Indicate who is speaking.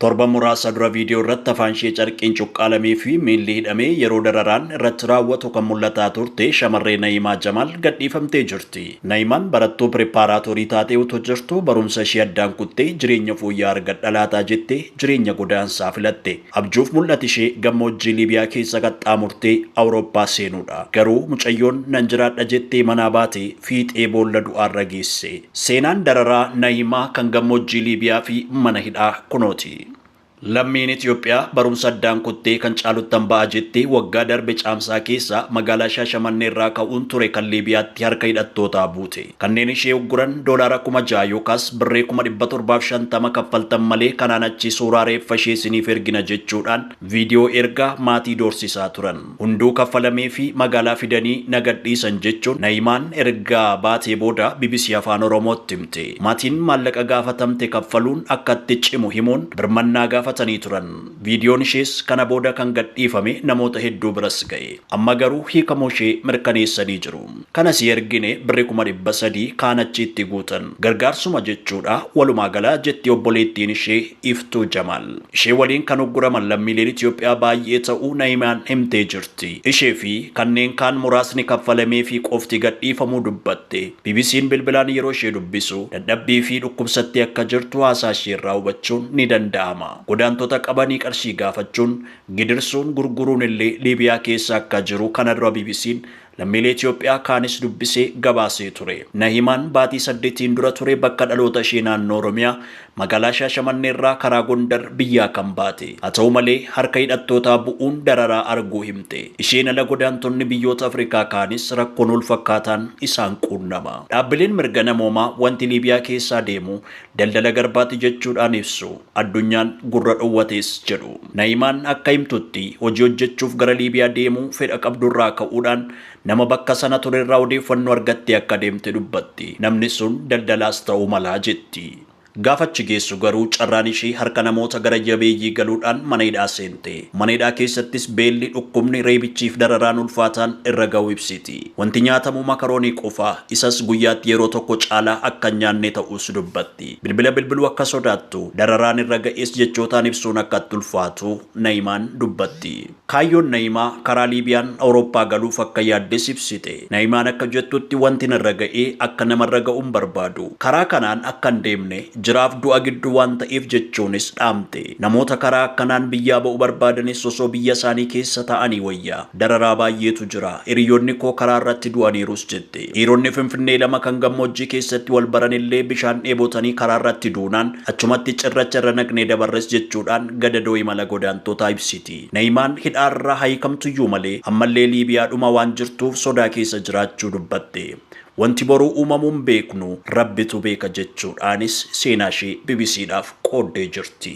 Speaker 1: Torban muraasa dura viidiyoo irratti afaanshee carqiin cuqqaalameefi miilli hidhamee yeroo dararaan irratti raawwatu kan mul'ataa turte shamarree Na'iimaa Jamaal gadhiifamtee jirti. Na'iimaan barattuu piripaaraatoorii taatee utuu jirtuu barumsa ishee addaan kuttee jireenya fooyya'aa argadha laataa jettee jireenya godaansaa filatte. Abjuuf mul'ati ishee gammoojjii Liibiyaa keessa qaxxaamurtee Awurooppaa seenuudha. Garuu mucayyoon nan jiraadha jettee manaa baate fiixee boolla du'aarra geesse. Seenaan dararaa Nahiimaa kan gammoojjii Liibiyaa fi mana hidhaa kunooti. Lammiin Itoophiyaa barumsa addaan kuttee kan caaluttan ba'a jettee waggaa darbe Caamsaa keessa magaalaa Shaashamannee irraa ka'uun ture kan Liibiyaatti harka hidhattootaa buute. Kanneen ishee ugguran doolaara kuma ja'a yookaas birrii kuma dhibba torbaa fi shantama kaffaltan malee kanaan achi suuraa reeffa ishee isiniif ergina jechuudhaan viidiyoo ergaa maatii doorsisaa turan. Hunduu kaffalameefii magaalaa fidanii na gadhiisan jechuun Na'imaan erga baatee booda bbc Afaan Oromootti himte. Maatiin maallaqa gaafatamte kaffaluun akka itti cimu himuun birmannaa gaafatanii turan. Viidiyoon ishees kana booda kan gadhiifame namoota hedduu biras ga'e. Amma garuu hiikamuushee mirkaneessanii jiru. kana sii ergine birri kuma dhibba sadii kaan achii itti guutan gargaarsuma jechuudha walumaa gala jetti obboleettiin ishee Iftuu Jamaal. Ishee waliin kan ugguraman lammiileen Itoophiyaa baay'ee ta'uu Na'imiyaan himtee jirti. Ishee fi kanneen kaan muraasni kaffalameefii qofti gadhiifamuu dubbatte. BBC'n bilbilaan yeroo ishee dubbisu dadhabbii fi dhukkubsattee akka jirtu haasaa ishee irraa hubachuun ni danda'ama. Godaantota qabanii qarshii gaafachuun, gidirsuun, gurguruun illee Liibiyaa keessa akka jiru kana dura BBC'n lammiilee Itoophiyaa kaanis dubbisee gabaasee ture. Nahimaan baatii saddetiin dura ture bakka dhaloota ishee naannoo Oromiyaa magaalaa Shaashamannee irraa karaa Gondar biyyaa kan baate. Haa ta'u malee harka hidhattootaa bu'uun dararaa arguu himte. Isheen ala godaantonni biyyoota Afrikaa kaanis rakkoon walfakkaataan isaan quunnama. Dhaabbileen mirga namoomaa wanti Liibiyaa keessaa deemu Daldala garbaati jechuudhaan ibsu. Addunyaan gurra dhowwatees jedhu. Na'imaan akka himtutti, hojii hojjechuuf gara Liibiyaa deemuu fedha qabdurraa ka'uudhaan nama bakka sana turerraa odeeffannoo argattee akka deemte dubbatti. Namni sun daldalaas ta'uu mala jetti. Gaafa achi geessu garuu carraan ishii harka namoota gara jabeeyyii galuudhaan mana hidhaa seente. Mana hidhaa keessattis beelli, dhukkubni, reebichiif dararaan ulfaataan irra ga'uu ibsiti. Wanti nyaatamu makaroonii qofa, isas guyyaatti yeroo tokko caalaa akka hin nyaanne ta'uus dubbatti. Bilbila bilbiluu akka sodaattu, dararaan irra ga'es jechootaan ibsuun akka itti ulfaatu Na'imaan dubbatti. Kaayyoon Na'imaa karaa Liibiyaan Awurooppaa galuuf akka yaaddes ibsite. Na'imaan akka jettutti wanti narra ga'e akka namarra ga'u hin barbaadu. Karaa kanaan akka hin deemne, jiraaf du'a gidduu waan ta'eef jechuunis dhaamte. Namoota karaa akkanaan biyyaa ba'u barbaadanis osoo biyyasaanii keessa taa'anii wayya. Dararaa baay'eetu jira. Hiriyoonni koo karaa irratti du'aniirus jette. Dhiironni Finfinnee lama kan gammoojjii keessatti wal baran illee bishaan dheebotanii karaa irratti duunaan achumatti cirracha irra naqnee dabarres jechuudhaan gadadoo imala godaantootaa ibsiti. Na'imaan hidhaa irraa haa hiikamtuyyuu malee ammallee Liibiyaadhuma waan jirtuuf sodaa keessa jiraachuu dubbatte. Wanti boruu uumamu hin beeknu, Rabbitu beeka jechuudhaanis seenaa ishee BBCdhaaf qooddee jirti.